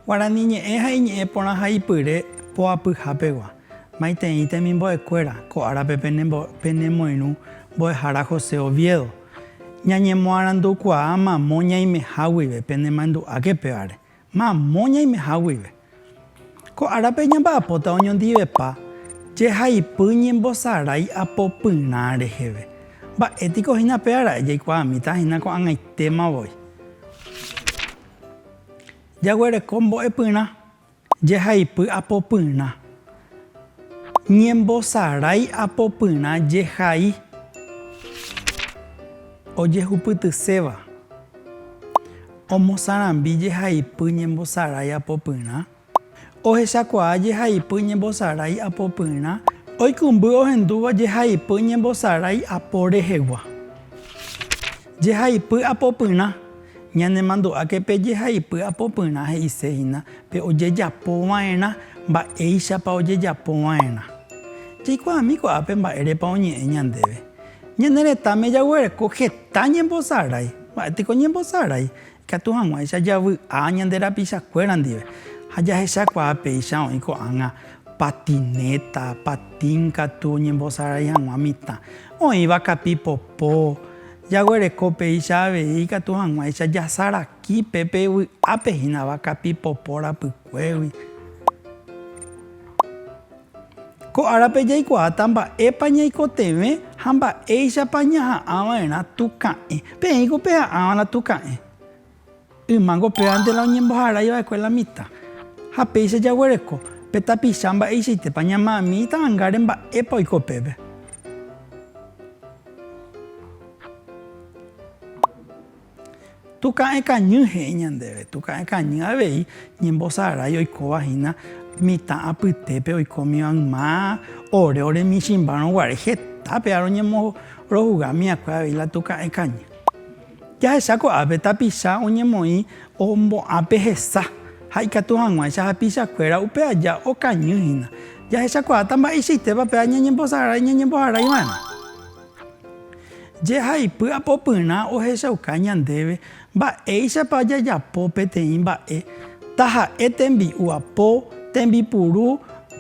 Guarani ñe'ẽ ha iñe'ẽ porã ha ipyre poapyha pegua. Maitei temimbo'ekuéra, ko árape penemoirũ mbo'ehára José Oviedo. Ñañemoarandukuaa mamo ñaimeha guive penemandu'áke pévare, mamo ñaimeha guive. Ko árape ñamba'apóta oñondivepa jehaipy ñembosarái apopyrã reheve. Mba'étiko hína pévara'e jaikuaamíta hína ko'ag̃aitéma voi jaguereko mbo'epyrã. Jehaipy apopyrã. Ñembosarái apopyrã jehai. Ojehupytyséva. Omosarambi jehaipy ñembosarái apopyrã. Ohechakuaa jehaipy ñembosarái apopyrã. Oikũmby ohendúva jehaipy ñembosarái apo rehegua. Jehaipy apopyrã. Ñanemandu'áke pe jehaipy apopyrã he'ise hína pe ojejapo va'erã mba'éichapa ojejapo va'erã. Jaikuaami ko'ápe mba'érepa oñe'ẽ ñandéve. Ñane retãme jaguereko heta ñembosarái. Mba'éteko ñembosarái, ikatu hag̃uáicha javy'a ñande rapichakuéra ndive ha jahechakuaa péicha oĩ ko'ág̃a patinéta, patín katu oñembosarái hag̃ua mitã, oĩva kapi popo, Jaguereko péicha avei ikatu hag̃uáicha jasaraki pe pe vy'ápe hínava kapi popo rapykuégui. Ko árape jaikuaáta mba'épa ñaikotevẽ ha mba'éichapa ñaha'ã va'erã tuka'ẽ. Peẽiko peha'ãva'erã tuka'ẽ. Ymango pévante la oñemboharái va'ekue la mitã. Ha péicha jaguereko pe tapicha mba'eichaitépa ñama'ami itavangare mba'épa oiko peve. Tuka'e kañy he'i ñandéve, tuka'e kañy avei ñembosarái oikóva hína mitã apytépe oikómiva yma ore ore michĩmbárõ guare. Heta péva roñemorohuga miakue avei la tuka'e kañy. Jahecha ko'ápe tapicha oñemoĩ ombo'ãpe hesa ha ikatu hag̃uáicha hapichakuéra upe aja okañy hína. Jahechakuaáta mba'eichaitépa pe aña ñembosarái ñañemboharai va'erã. Jehaipy apopyrã ohechauka ñandéve mba'éichapa jajapo peteĩ mba'e, taha'e tembi'u apo, tembipuru,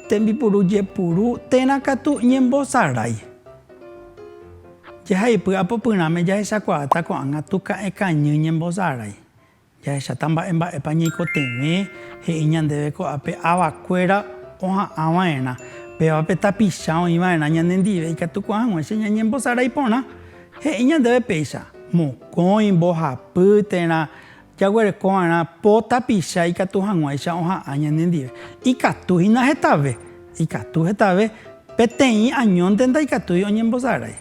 tembipuru jepuru térã katu ñembosarái. Jehaipy apopyrãme jahechakuaáta ko'ág̃a Tuka'e Kañy ñembosarái. Jahecháta mba'e mba'épa ñaikotevẽ he'i ñandéve ko'ápe ava kuéra oha'ã va'erã. Péva pe tapicha oĩ va'erã ñane ndive ikatukuaa hag̃ua che ñañembosarái porã. He'i ñandéve péicha, mokõi, mbohapy térã. Jaguereko va'erã po tapicha ikatu hag̃uáicha oha'ã ñanendive. Ikatu hína hetave, ikatu hetave, peteĩ añónte ndaikatúi oñembosarái.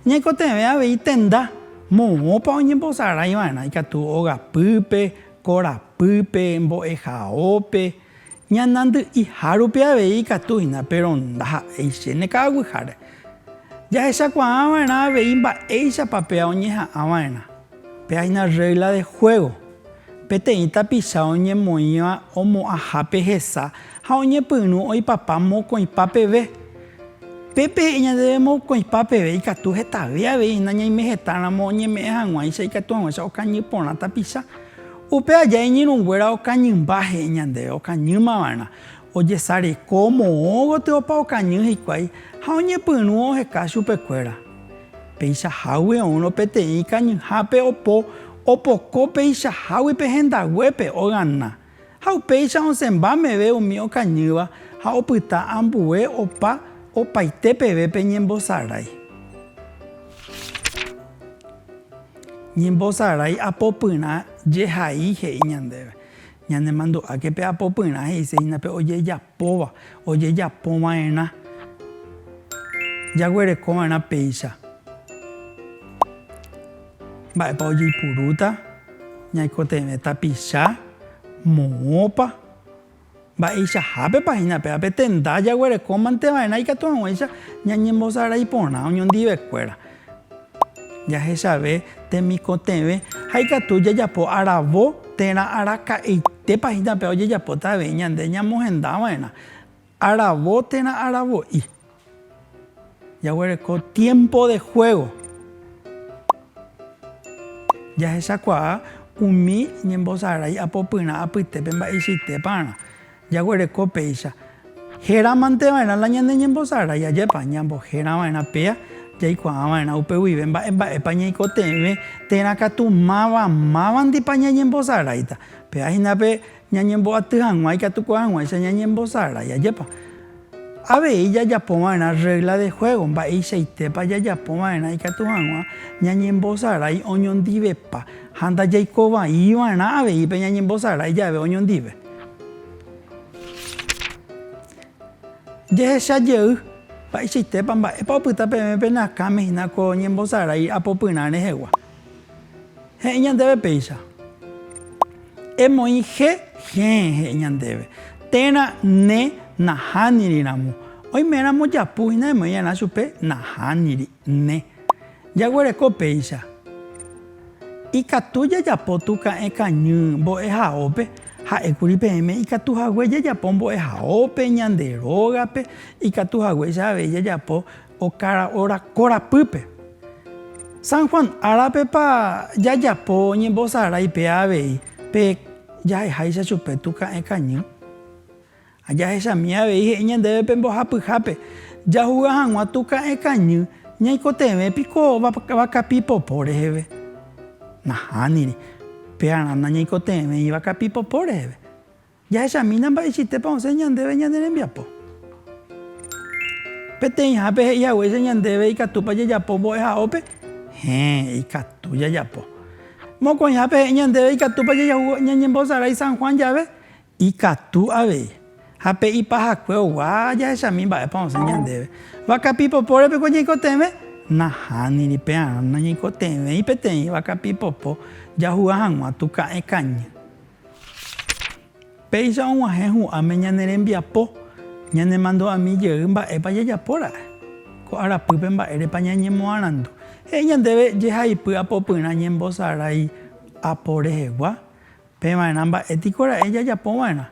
Ñaikotevẽ avei tenda moõpa oñembosarái va'erã ikatu ogapýpe, korapýpe, mbo'ehaópe, Ñanandy'iha rupi avei ikatu hína, péro ndaha'éi chéne ka'aguiháre. Jahechakuaa va'erã avei mba'éichapa péa oñeha'ã va'erã. Péa hína rrégla de juégo, peteĩ tapicha oñemoĩva omo'ãha pe hesa ha oñepyrũ oipapa mokõipa peve. Pe pehe'i ñandéve mokõipa peve ikatu hetave avei hína ñaimehetáramo oñeme'ẽ hag̃uáicha ikatu hag̃uáicha okañy porã tapicha. Upe aja iñirũnguéra okañymba he'i ñandéve okañýma va'erã, ojesareko moõ gotyo opa okañy hikuái ha oñepyrũ oheka chupekuéra. Peichahágui oúrõ peteĩ ikañyhápe opo opoko peichahágui pe hendaguépe ogana, ha upéicha osẽmba meve umi okañýva ha opyta ambue opa opaite peve pe ñembosarái. Ñembosarái apopyrã jehai he'i ñandéve. Ñanemandu'áke pe apopyrã he'ise hína pe ojejapóva, ojejapo va'erã, jaguereko va'erã péicha. Mba'épa ojeipurúta, ñaikotevẽ tapicha, moõpa. Mba'eichahápepa hína péva pe tenda jaguerekómanteva'erã ikatu hag̃uáicha ñañembosarái porã oñondivekuéra jahechave temikotevẽ ha ikatu jajapo aravo térã araka'e. Itépa hína péva ojejapóta avei ñande ñamohendava'erã aravo térã aravo'i. Jaguereko tiempo de juego. Jahechakuaa umi ñembosarái apopyrã apytépe mba'eichaitéparã jaguereko péicha. Heramanteva'erã la ñane ñembosarái, ajépa ñamboherava'erã péa jaikuaava'erã upe guive mba'emba'épa ñaikotevẽ térã katu máva mávandipa ñañembosaráita. Péa hína pe Ñañemboaty hag̃ua ikatu ko'ag̃uáicha ñañembosarái. Ajépa avei jajapo va'erã rrégla de juégo? Mba'eichaitépa jajapo va'erã ikatu hag̃ua ñañembosarái oñondivepa ha ndajaiko vai va'erã avei pe ñañembosarái jave oñondive? Jehecha jey, Mba'eichaitépa, mba'épa opyta peẽme pene akãme hína ko ñembosarái apopyrã rehegua? He'i ñandéve péicha. Emoĩ je hẽ, he'i ñandéve. Térã ne nahániri ramo. Oime ramo japu hína emoĩ rã chupe nahániri, ne. Jaguereko péicha. Ikatu jajapo tuka'ẽ kañy mbo'ehaópe, ha'ékuri peẽme ikatu hague jajapo mbo'ehaópe, ñande rógape, ikatu haguéicha avei jajapo. Okara óra korapýpe. San Juan, árapepa jajapo ñembosarái pe avei pe jaheháicha chupe tuka'ẽ kañy? Ha jahechami avei he'i ñandéve pe mbohapyhápe, Jahuga hag̃ua tuka'ẽ kañy ñaikotevẽ piko vakapi popo reheve? Nahániri, pe arana ñaikotevẽi vakapi popo reheve. Jahechamína mba'eichaitépa osẽ ñandéve ñane rembiapo. Peteĩhápe he'i haguéicha ñandéve ikatúpa jajapo mbo'ehaópe? Héẽ, ikatu jajapo. Mokõihápe he'i ñandéve ikatúpa jajahugo ñañembosarái San Juan jave? Ikatu avei. Ha pe ipahakue ogua jahechami mba'épa osẽ ñandéve. Vaka pipopo repekue ñaikotevẽ? Nahániri, pearã nañaikotevẽi peteĩ vaka pipopo jahuga hag̃ua tuka'ẽ kañy. Péicha og̃uahẽ hu'ãme ñane rembiapo, ñanemandu'ami jey mba'épa jajapo ra'e. Ko arapýpe mba'érepa ñañemoarandu. He'i ñandéve jehaipy apopyrã ñembosarái apo rehegua, peva'erã mba'e tiko ra'e jajapo va'erã.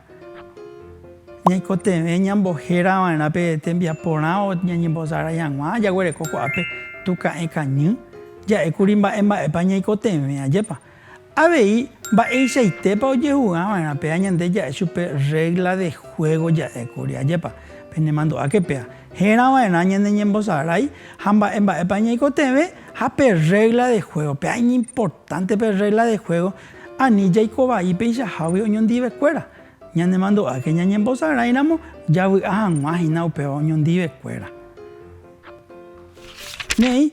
Ñaikotevẽ ñambohéra va'erã pe tembiapo rã o ñañembosarái hag̃ua, jaguereko ko'ápe tuka'e kañy, ja'ékuri mba'e mba'épa ñaikotevẽ, ajépa. Avei, mba'eichaitépa ojehu'ãva'erã péa ñande ja'e chupe rrégla de juégo ja'ékuri? Ajépa penemandu'áke péa hérava'erã ñane ñembosarái ha mba'e mba'épa ñaikotevẽ ha pe rrégla de juégo. Péa iñimportánte pe rrégla de juégo ani jaiko vai peichahágui oñondivekuéra. Ñanemandu'áke ñañembosaráiramo javy'a hag̃ua hína upéva oñondivekuéra. Néi,